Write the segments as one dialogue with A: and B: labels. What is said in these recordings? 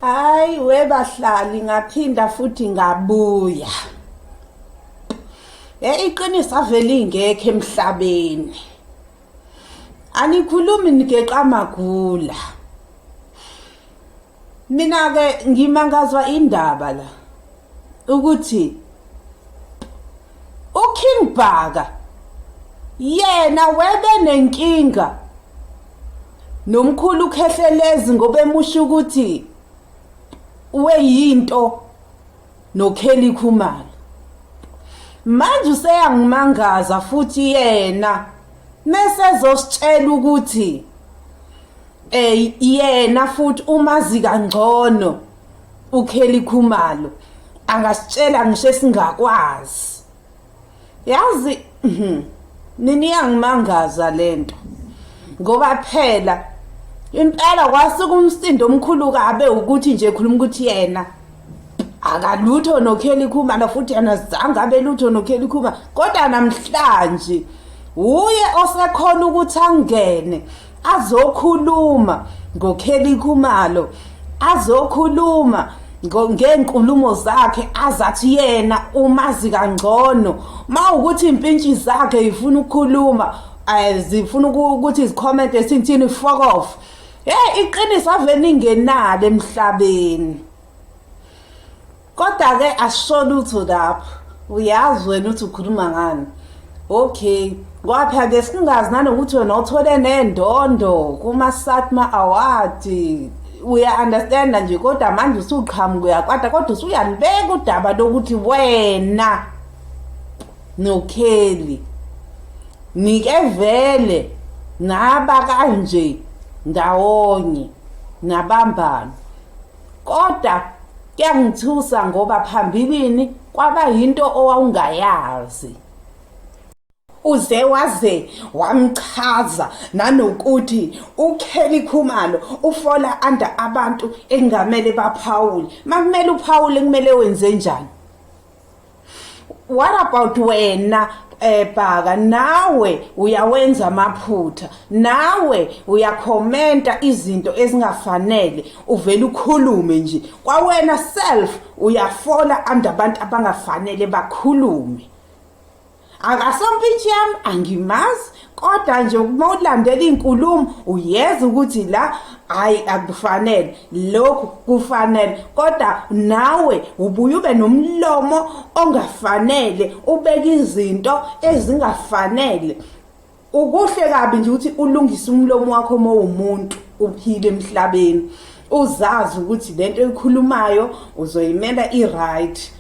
A: Hayi webahlali ngaphinda futhi ngabuya. Eh iqiniso avele ingekho emhlabeni. Anikhulumi nigeqa magula. Mina-ke ngimangazwa indaba la ukuthi uKing Bhaka yena webe nenkinga nomkhulu ukhehlelezi ngoba emusho ukuthi weyinto noKelly Khumalo manje useyangimangaza futhi yena mesezositshela ukuthi eh yena futhi umazi kangcono uKelly Khumalo angasitshela ngisho esingakwazi yazi mhm, nini yangimangaza lento ngoba phela impela kwasuka umsindo omkhulu kabe ukuthi nje khuluma ukuthi yena akalutho noKelly Khumalo futhi yena zange abe lutho noKelly Khumalo kodwa namhlanje uye osekhona ukuthi angene azokhuluma ngoKelly Khumalo azokhuluma ngeenkulumo zakhe azathi yena umazi kangcono mawukuthi impintshi zakhe ifuna ukukhuluma eh, zifuna ukuthi izicomment esinthini fuck off hey iqiniso ave ningenalo emhlabeni kodwa ke asisho lutho lapho uyazi wena uthi ukhuluma ngani okay kwapha ke singazi nanokuthi wena uthole nendondo kuma satma award uya understand nje kodwa manje usuqhamuka uyakwata kodwa usuyanibeka udaba lokuthi wena nokheli nike vele naba kanje ndawonye nabambana Kodwa kuyangithusa ngoba phambilini kwaba yinto owawungayazi. uze waze wamchaza nanokuthi uKelly Khumalo ufola under abantu engamele baphawule makumele uphawule kumele wenze njani what about wena ebhaka eh, nawe uyawenza amaphutha nawe uyakhomenta izinto ezingafanele uvela ukhulume nje kwawena self uyafola andabantu abangafanele bakhulume akasompintshi yami angimazi kodwa nje uma ulandela iy'nkulumo uyeza ukuthi la hhayi akufanele lokhu kufanele kodwa nawe ubuye ube nomlomo ongafanele ubeke izinto ezingafanele Ukuhle kabi nje ukuthi ulungise umlomo wakho uma uwumuntu uphile emhlabeni uzazi ukuthi lento ekhulumayo uzoyimela i-right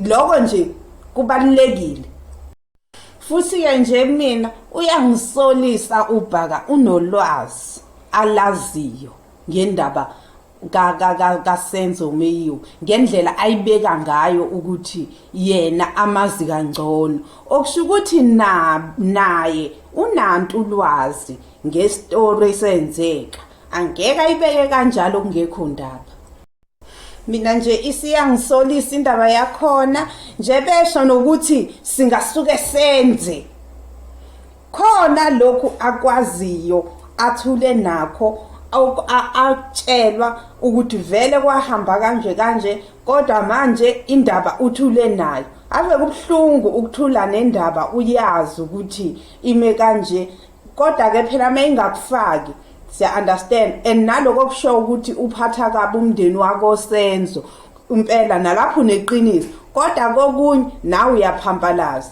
A: lokho nje kubalulekile futhi-ke nje mina uyangisolisa ubhaka unolwazi alaziyo ngendaba kasenzo meyiwe ngendlela ayibeka ngayo ukuthi yena amazi kangcono okusho ukuthi naye unantu ulwazi ngestori esenzeka angeke ayibeke kanjalo kungekho ndaba mina nje isiyangisolisa indaba yakhona nje besho nokuthi singasuke senze khona lokhu akwaziyo athule nakho atshelwa ukuthi vele kwahamba kanje kanje kodwa manje indaba uthule nayo ave kubuhlungu ukuthula nendaba uyazi ukuthi ime kanje kodwa ke phela uma ingakufaki siya understand and naloko kusho ukuthi uphatha kabi umndeni wako senzo impela nalapho uneqiniso kodwa kokunye nawe uyaphampalaza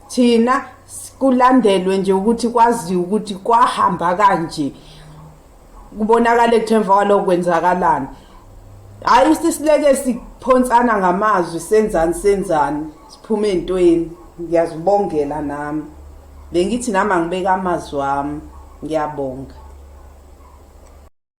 A: thina kulandelwe nje ukuthi kwaziwe ukuthi kwahamba kanje kubonakala ukuthi emva kwalokho kwenzakalani hhayi sisileke siphonsana ngamazwi senzani senzani siphume ey'ntweni ngiyazibongela nami bengithi nami angibeka amazwi wami ngiyabonga